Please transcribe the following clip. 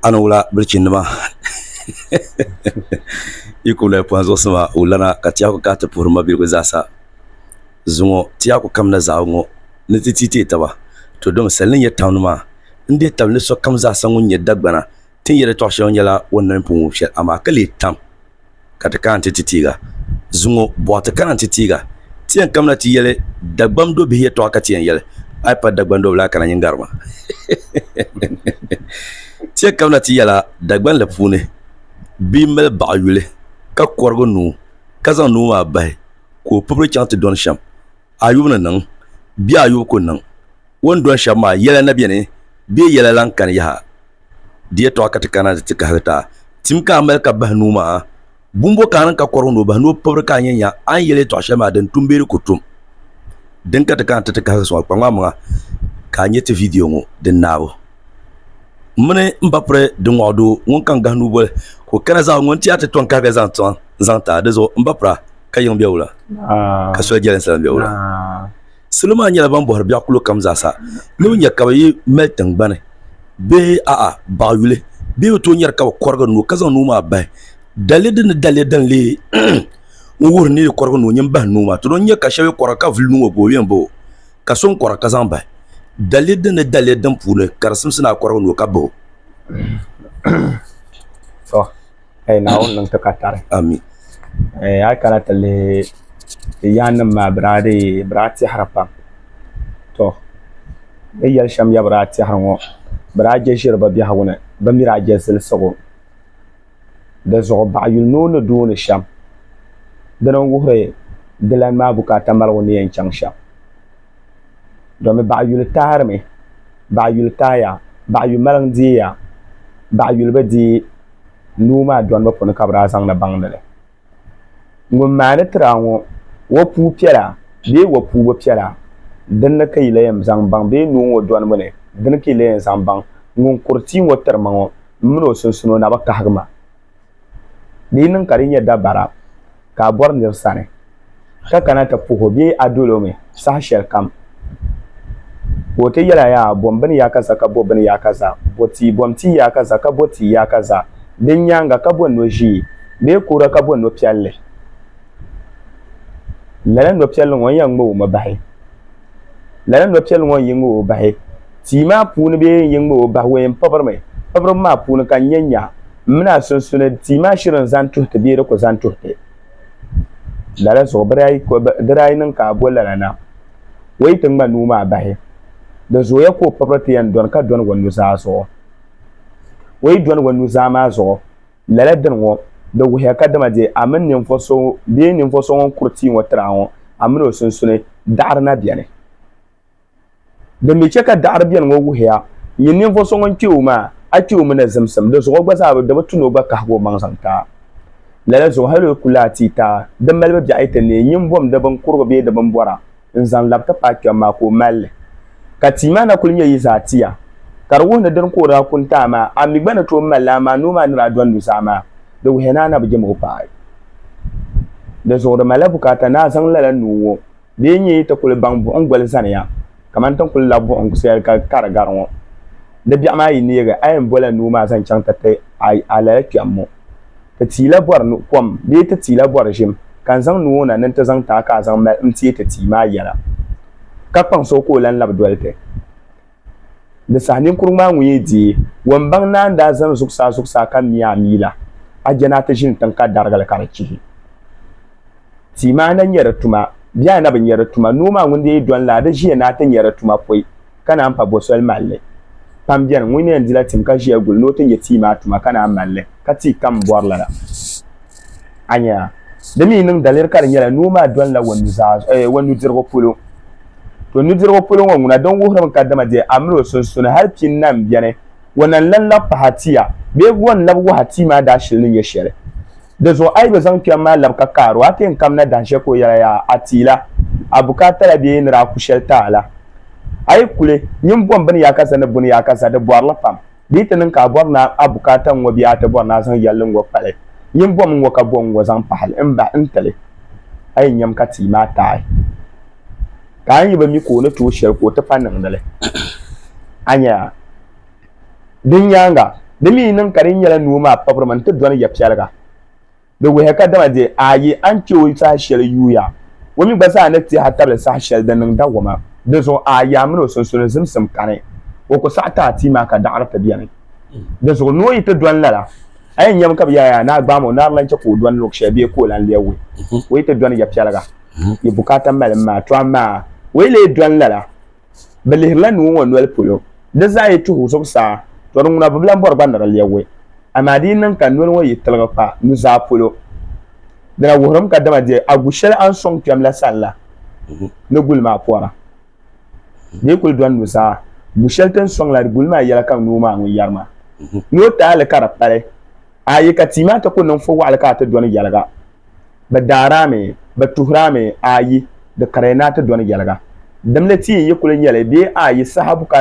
Ani wula bilichinnima yi ku lahi pɔhi zuɣusima o lana ka Tɛhaku kahi ti puhiri mabiligu zaasa zuŋɔ Tɛhaku kamina zaɣibu ŋɔ ni ti ti teei taba to domi sali ni nyɛ tawuni maa n-dihi tabili ni sokam zaasa ŋun nyɛ Dagbana tin yɛli tɔɣ'shɛŋa nyɛla o nani pun wum shɛli amaa ka leei tam ka ti kana ti ti tiiga. Zuŋɔ bɔɣu ti kana n-ti tiiga. Ti yɛn kamina ti yɛli Dagbam do bihi yɛtɔɣa ka ti yɛn yɛli, A yi pa Dagban do bila a kana nyin gari ma. Ti yɛn kamina ti yɛla Dagbanli puuni bia m-mali baɣa yuli ka kɔrigi nuu ka zaŋ nuu maa bahi ka o pibiri chaŋ ti dɔni shɛm. Ayubu ni niŋ bee Ayubu ku niŋ. O ni dɔni shɛba maa, yɛla na beni, bee yɛla lan kani yaha? Di yɛtɔɣa ka ti kana nti ti kahigi ti a. Tim ka a mali ka bahi nuu maa? Bumbo ka a niŋ ka kɔrigi ni o bahi ni o pibiri ka a nya nya a ni yɛli yɛtɔɣ shɛli maa din tum bee di ku tum? Din ka ti kana nti ti kahigi sɔŋ a kpaŋmaŋmaŋa ka a nya ti vidiyo ŋɔ din naabu M mini m ba piri di ŋɔɣu doo ŋun ka n-gahi nuuboli ka o kana zaɣ ŋun ti a ti tɔn kahiga zaŋ tiŋa n-zaŋ ti a. Di zuɣu m ba pira ka yiŋ bɛwula ka soli jɛlinsi lan bɛwula. Salo maa nyɛla ban bɔhiri biɛɣu kulo kam zaasa ni bɛ nya ka bɛ yi mali tiŋgbani bee a'a baɣ yuli bee bɛ tooi nyari ka bɛ kɔrigi nuu ka zaŋ nuu maa bahi daliya din ni daliya din leei n-wuhiri ni yi kɔrigi nuu nyin bahi nuu maa. Ti don nya ka shɛba yi kɔra ka vuli nuu ŋɔ boobu yɛn bahi o ka so n-kɔra ka zaŋ bahi daliya din ni daliya din puuni ka di simsi ni a kɔrigi nuu ka bahi o. ka yi Naawuni niŋ ti ka tari. Amin. Eh, a kana ti lihi ti yaannim maa bɛ daa dii bɛ daa tɛhiri pam. To, bɛ yɛli shɛm ya bɛ daa tɛhiri ŋɔ, bɛ daa je ʒiri bɛ biɛhigu ni, bɛ mi daa je zilisigu. Di zuɣu baɣa yuli ni o ni duuni shɛm. Dina n-wuhiri dilani maa bukaata maligu ni yɛn chaŋ shɛm. domi baɣa yuli taarimi baɣa yuli taaya baɣa yuli maliŋ deeya baɣa yuli bi dee noo maa dolibu puuni ka bi daa zaŋdi baŋdi li ŋun maandi tiraa ŋo o puu piɛla bee o puu bi piɛla dinni ka yi yɛn zaŋ baŋ bee noo ŋo dolibu ni dini ka yi yɛn zaŋ baŋ ŋun kuri tia ŋo tiri ma ŋo n mini o sunsuuni o nabi kahigi ma Di yi niŋ ka di nyɛ dabara ka a bɔri nir sani, ka kana ti puh o bee a dol o mi saha shɛlikam, ka o ti yɛl a yaa bom bini yaa kaza ka bo bini yaa kaza, bo tii bom tii yaa kaza ka bo tii yaa kaza, din nyaaŋa ka bo no ʒiɛ bee kuura ka bo no piɛlli, lala no piɛlli ŋɔ n yɛn ŋma o mi bahi. Lala nɔpiɛlli ŋɔ n-yi ŋ-ŋ o bahi tia maa puuni bee n-yi ŋ-ŋ o bahi ween pɔbirimi. Pɔbiribu maa puuni ka n nya nya m-min a sunsuni tia maa shiri n zani tuhi ti bee di ku zani tuhi ti. Lala zuɣu bɛ daa yi niŋ ka a bo lala na o yi ti ŋma nuu maa bahi, di zooya ka o pɔbiri ti yɛn dɔni ka dɔni o nuzaa zuɣu. O yi dɔni o nuzaa maa zuɣu. Lala dini ŋɔ, di wuhiya kadama dee a mini ninvuɣ so bee ninvuɣ so ŋun kuri tia ŋɔ tiri a ŋɔ, a mini o sunsuni daɣiri na beni. Din mi chɛ ka daɣiri beni ŋɔ wuhiya, nyin ninvuɣ so ŋun kpe o maa, a kpe o mi ni zimsim, di zuɣu gba zaa bi di bi tu ni o gba kahigi o maŋ zaŋ taai. Lala zuɣu hal o ku lahi ti taai di malibu biɛɣu yi ti neei nyin bom di bin kurigi bee di bin bɔra. n zaŋ labi ti paai kpɛm maa ka o mali li. Ka tia maa na kuli nyɛ yi zaa tia, ka di wuhi ni dini ka o daa kuni ti a maa, a mi gba ni tooi mali li, amaa noo maa ni daa dɔni nuzaa maa, di wuhiya ni a na bi je mɔɣu paai. Dinzuɣu di malila bukaata ni a zaŋ lala nuu ŋɔ bee n-nyɛ yi ti kuli baŋ buɣim goli zaniya kamani ti ni kuli labi buɣim shɛli ka ka di gari ŋɔ. Di biɛɣu maa yi neegi, a yɛn bɔla noo maa zaŋ chaŋ ti ti a lala kpɛm ŋɔ. Ti tia la bɔri nu kom bee ti tia la bɔri ʒim, ka n zaŋ nuu o na ni nti zaŋ ti a ka a zaŋ mali n-teei ti tia maa yɛla, ka kpaŋsi o ka o lan labi doli ti. Di saha ninkurugu maa ŋun yi deei wombaŋ naan daa zani zuɣusaa zuɣusaa ka mi a mii la, a je ni a ti ʒini tiŋ ka darigi li ka di chihi. Tia maa na nya di tuma bee a na bi nya di tuma, noo maa ŋun dee yi dɔni la, a di ʒiya ni a ti nya di tuma pɔi. ka naan pa bosoli mali li. Pam beni ŋun ni yɛn dila tim ka ʒiya guli ni o ti nya tia maa tuma ka naan mali li, ka tia kam m-bɔri lala. A nya a? Di mi niŋ daliri ka di nyɛla noo maa dolila o nuzaa zuɣu, eeh, o nudirigu polo. To nudirigu polo ŋɔ ŋuna din wuhirimi ka dama di a mini o sunsuni hal pi n-na m-beni, o na n-lan labi pahi a tia, bee o ni labi wahi a tia maa daashili ni nyɛ shɛli. Di zuɣu a yi bi zaŋ kpɛm maa labi ka kaar o, a ti yɛn kamina dahin shɛli ka o yɛla yaa a ti la a bukaata la bee ni daa ku shɛli ti a la. A yi kuli nyin bom bini yaa ka za ni buni yaa ka za, di bɔri li pam. Di yi ti niŋ ka a bɔri ni a bukaata n-ŋɔ bee a ti bɔri ni a zaŋ yɛlli n-ŋɔ kpali, nyin bom n-ŋɔ ka bo n-ŋɔ zaŋ pahi li m-bahi n ti li. A yi nyam ka tia maa taai ka a yi bi mi ka o ni tooi shɛli ka o ti pa niŋdi li, a nya a Din nyaaŋa, di mi yi niŋ ka di nyɛla nuu maa pabirima nti dɔni ya piɛliga, di wuhiya ka dama di aayi a ni chɛ o saha shɛli yuuya, o mi gba zaa ni teei a tabili saha shɛli din niŋ dawoma. Dinzuɣu aayi a mini o sunsuni zimsim kani, o ku saɣi ti a tia maa ka daɣiri ti beni. Dinzuɣu noo yi ti dɔni lala, a yɛn nyami ka bɛ yaaya ni a gbaam o ni a ni lan chɛ ka o dɔni luɣ shɛli bee ka o lan lia wuhi o yi ti dɔni ya piɛliga yi bukaata malim maa, to amaa o yi lee dɔni lala, Bɛ lihirila nuu ŋɔ noli polo, di zaa yi tuhi zuɣusaa, tɔ di ŋuna bi bilan bɔri gba ni di lɛbigi. Amaa di yi niŋ ka noli ŋɔ yi tiligi kpa nuzaa polo, di na wuhirim ka dama di a gu shɛli a ni sɔŋ kpɛm la sani la ni guli maa pɔra. Di yi kul dɔni nuzaa, gu shɛli ti ni sɔŋ la di guli maa yɛla ka nuu maa ŋun yɛri maa ni o ti a li ka di pali a yi ka tia maa ti ku niŋ fo waɣili ka a ti dɔni yɛliga. Bɛ daari a mi, bɛ tuhir a mi, aayi, di kari ya ni a ti dɔni yɛliga. Dimli ti yi yi kul nyɛli bee aayi saha bukaata maa ni.